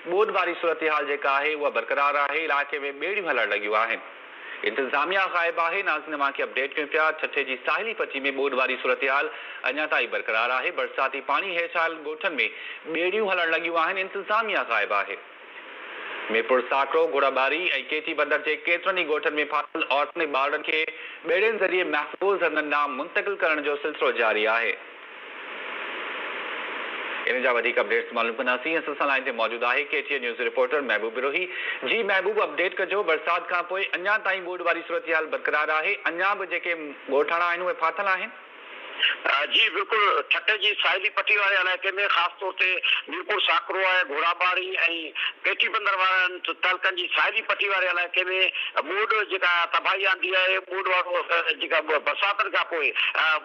ٻوڏ واري صورتحال جيڪا آهي اها برقرار آهي، علائقي ۾ ٻيڙيون هلڻ لڳيون آهن، انتظاميا غائب آهي، ناظرين اوهان کي اپڊيٽ ڪيون پيا، ٺٽي جي ساحلي پٽي ۾ ٻوڏ واري صورتحال اڃا تائين برقرار آهي، برساتي پاڻي هيٺ آيل ڳوٺن ۾ ٻيڙيون هلڻ لڳيون آهن، انتظاميا غائب آهي. ميرپور ساڪرو، گهوڙا ٻاري ۽ ڪي ٽي بندر جي ڪيترن ئي ڳوٺن ۾ ڦاسيل عورتن ۽ ٻارڙن کي ٻيڙين ذريعي محفوظ هنڌن ڏانهن منتقل ڪرڻ جو سلسلو جاري آهي، انهن جا وڌيڪ اپڊيٽس معلوم ڪنداسين اسان سان لائين تي موجود آهي K T N news reporter Mehboob Brohi جي محبوب اپڊيٽ ڪجو برسات کانپوء اڃا تائين ٻوڏ واري صورتحال برقرار آهي اڃا به جيڪي ڳوٺاڻا آهن اهي ڦاٿل آهن؟ جي بلڪل ٺٽي جي ساحلي پٽي واري علائقي ۾ خاص طور تي ميرپور ساڪرو آهي گهوڙاٻاڙي ۽ پيٽي بندر وارن تعلقن جي ساحلي پٽي واري علائقي ۾ ٻوڏ جيڪا تباهي آندي آهي، ٻوڏ وارو جيڪا برساتن کان پوء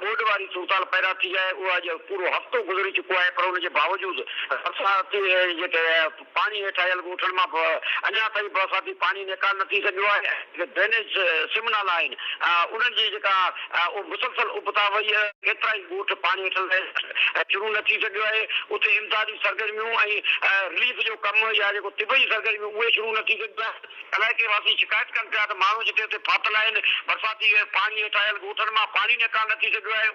ٻوڏ واري صورتحال پيدا ٿي آهي اهو اڄ پورو هفتو گذري چڪو آهي پر ان جي باوجود برساتي جيڪي پاڻي هيٺ آيل ڳوٺن مان به اڃا تائين برساتي پاڻي نيڪال نه ٿي سگهيو آهي. ڊرينيج سمنا نه آهن انهن جي جيڪا اهو مسلسل ابتا وئي ڪيترائي ڳوٺ پاڻي هيٺ لهي شروع نه ٿي سگهيو آهي اتي امدادي سرگرميون ۽ رليف جو ڪم يا جيڪو طبعي سرگرميون اهي شروع نه ٿي سگهيون آهن علائقي واسي شڪايت ڪن پيا ته ماڻهو جتي اتي ڦاٿل آهن برساتي پاڻي هيٺ آيل ڳوٺن مان پاڻي نيڪال نه ٿي سگهيو آهي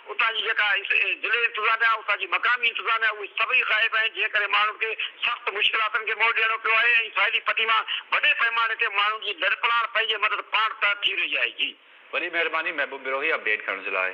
اتان جي جيڪا ضلعي انتظاميا، اتان جي مقامي انتظاميا اهي سڀئي غائب آهن جنهن ڪري ماڻهن کي سخت مشڪلاتن کي منهن ڏيڻو پيو آهي ۽ ساحلي پٽي مان وڏي پئماني تي ماڻهن جي لڏپلاڻ پنهنجي مدد پاڻ تحت ٿي رهي آهي. جي. وڏي مهرباني محبوب بروهي اپڊيٽ ڪرڻ جي لاء.